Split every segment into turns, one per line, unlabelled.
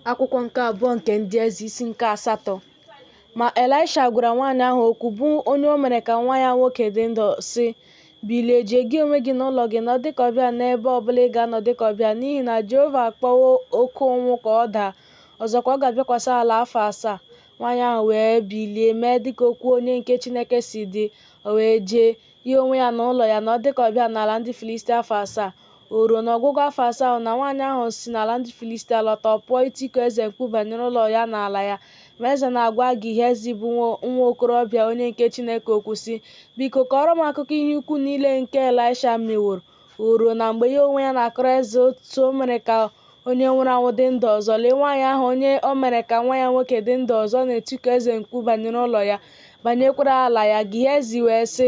akwụkwọ nke abụọ nke ndị eze isi nke asatọ ma elisha gwara nwaanyị ahụ okwu bụ onye o mere ka nwa ya nwoke dị ndụ sị bilie jee gị onwe gị na ụlọ gị nọ dịka ọbịa n'ebe ọbụla ị ga-anọ dịka ọbịa n'ihi na jehova akpọwo oke ụnwụ ka ọ daa ọzọkwa ọ ga-abịakwasị ala afọ asaa nwaanyị ahụ wee bilie mee dịka okwu onye nke chineke si dị o wee jee ya onwe ya na ụlọ ya nọ dịka ọbịa n'ala ndị filistia afọ asaa O ruo n'ọgwụgwụ afọ asaa ahụ na nwaanyị ahụ si n'ala ndị Filistia lọta, ọ pụọ itiku eze mkpu banyere ụlọ ya na ala ya. Ma eze na-agwa Gehazi bụ nwa okorobịa onye nke Chineke okwu sị, Biko, kọọrọ m akụkọ ihe ukwu niile nke Elisha meworo. O ruo na mgbe ya onwe ya na-akọrọ eze otu o mere ka onye nwụrụ anwụ dị ndụ ọzọ, lee nwaanyị ahụ onye o mere ka nwa ya nwoke dị ndụ ọzọ na-etiku eze mkpu banyere ụlọ ya, banyekwara ala ya. Gehazi wee sị,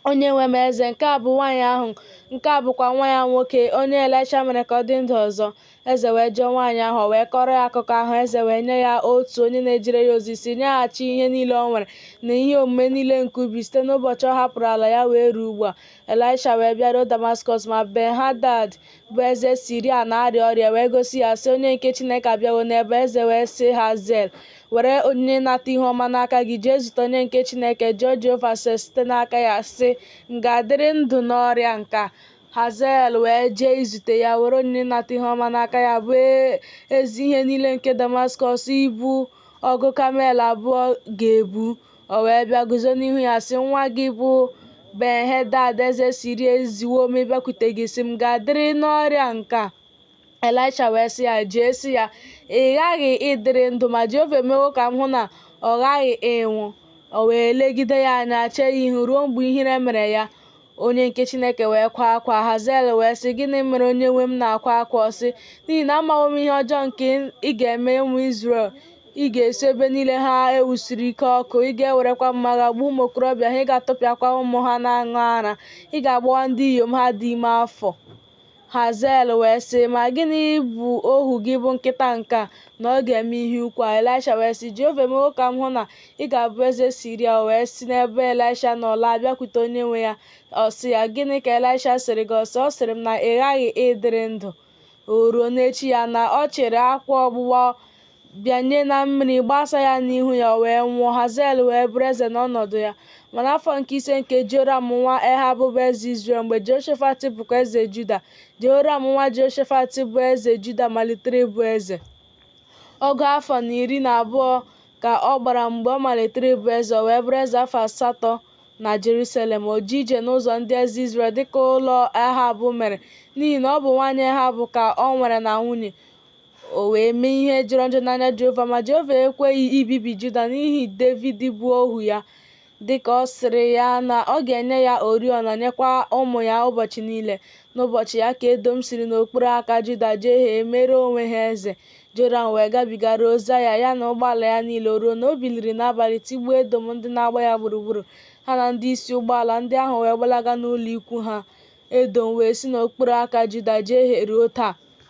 Onye nwe m eze, nke a bụ nwaanyị ahụ, nke a bụkwa nwa ya nwoke, onye Elisha mere ka ọ dị ndụ ọzọ. Eze wee jụọ nwaanyị ahụ, o wee kọọrọ ya akụkọ ahụ. Eze wee nye ya otu onye na-ejere ya ozi sị nyeghachi ihe niile o nwere na ihe omume niile nke ubi site n'ụbọchị ọ hapụrụ ala ya wee ruo ugbu a. Elisha wee bịaruo Damaskọs, ma Ben-hadad bụ eze Siria na-arịa ọrịa wee gosi ya, sị, Onye nke Chineke abịawo n'ebe. Eze wee sị Hazael, Were onyinye ịnata ihu ọma n'aka gị jee izute onye nke Chineke, jụọ Jehova ase site n'aka ya, sị, M ga-adịrị ndụ n'ọrịa nke a? Hazael wee jee izute ya, were onyinye ịnata ihu ọma n'aka ya, bụ ezi ihe niile nke Damaskọs ibu ọgụ kamel abụọ ga-ebu, O wee bịa guzo n'ihu ya sị, Nwa gị bụ Ben-hadad eze Siria eziwo m ịbịakwute gị sị m ga-adịrị n'ọrịa nke a. Elisha wee sị ya, Jee sị ya, ị ghaghị ịdịrị ndụ, ma Jehova emewo ka m hụ na ọ ghaghị ịnwụ. O wee legide ya anya, chee ya ihu ruo mgbe ihere mere ya. Onye nke Chineke wee kwaa akwa, Hazael wee sị, Gịnị mere onye nwe m na-akwa akwa? Ọ sị, N'ihi na amawo m ihe ọjọọ nke ị ga-eme ụmụ Izrel. Ị ga-esu ebe niile ha e wusiri ike ọkụ, ị ga-ewerekwa mma agha gbuo ụmụ okorobịa ha, ị ga-atụpịakwa ụmụ ha na-aṅụ ara, ị ga-agbawa ndị inyom ha dị ime afọ. Hazael wee sị, Ma gịnị bụ ohu gị bụ nkịta nke a, na ọ ga-eme ihe ukwu a? Elisha wee sị, Jehova emewo ka m hụ na ị ga-abụ eze Siria. O wee si n'ebe Elisha nọ laa bịakwute onye nwe ya. Ọ sị ya, Gịnị ka Elisha sịrị gị? Ọ sị, Ọ sịrị m na ị ghaghị ịdịrị ndụ. O ruo n'echi ya, na ọ chịrị akwa ọgbụgba bịanye na mmiri, gbasa ya n'ihu ya, o wee nwụọ. Hazael wee bụrụ eze n'ọnọdụ ya. Ma n'afọ nke ise nke Joram nwa Ehab bụ eze Izrel, mgbe Jehoshafat bụkwa eze Juda, Jehoram nwa Jehoshafat bụ eze Juda malitere ịbụ eze. Ọgụ afọ na iri na abụọ ka ọ gbara mgbe ọ malitere ịbụ eze, o wee bụrụ eze afọ asatọ na Jerusalem. O jee ije n'ụzọ ndị eze Izrel dịka ụlọ Ehab mere, n'ihi na ọ bụ nwaanyị Ehab ka o nwere na nwunye. O wee mee ihe jọrọ njọ n'anya Jehova, ma Jehova ekweghị ibibi Juda n'ihi Devid bụ ohu ya, dị ka ọ sịrị ya na ọ ga-enye ya oriọna, nyekwa ụmụ ya ụbọchị niile. N'ụbọchị ya ka Edọm siri n'okpuru aka Juda jehie, mere onwe ha eze. Joram wee gabiga ruo Zaịa, ya na ụgbọala ya niile, o ruo na o biliri n'abalị tigbuo Edọm ndị na-agba ya gburugburu, ha na ndị isi ụgbọala ndị ahụ wee gbalaga n'ụlọ ikwu ha. Edọm wee si n'okpuru aka Juda jehie ruo taa.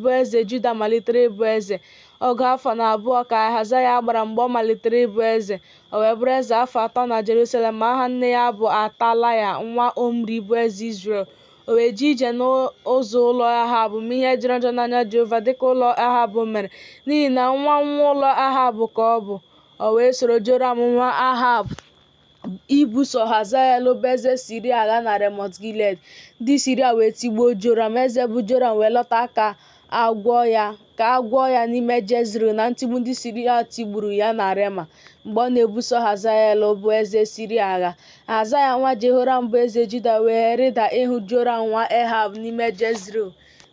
bụ eze Juda malitere ịbụ eze. Ọgụ afọ na abụọ ka Ahazaya gbara mgbe ọ malitere ịbụ eze. O wee bụrụ eze afọ atọ na Jerusalem, ma aha nne ya bụ Atalaya nwa Omri bụ eze Izrel. O wee jee ije n'ụzọ ụlọ Ahab, mee ihe jọrọ njọ n'anya Jehova dị ka ụlọ Ahab mere, n'ihi na nwa nwa ụlọ Ahab ka ọ bụ. O wee soro Joram nwa Ahab. ibuso Hazael bụ eze Siria agha na Remọt Gilead ndị Siria wee tigbuo Joram eze bụ Joram wee lọta ka ka a gwọọ ya n'ime Jezril na ntigbu ndị Siria tigburu ya na Rema mgbe ọ na-ebuso Hazael bụ eze Siria agha Ahazaya nwa Jehoram bụ eze Juda wee rịda ịhụ Joram nwa Ehab n'ime Jezril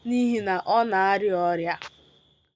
n'ihi na ọ na-arịa ọrịa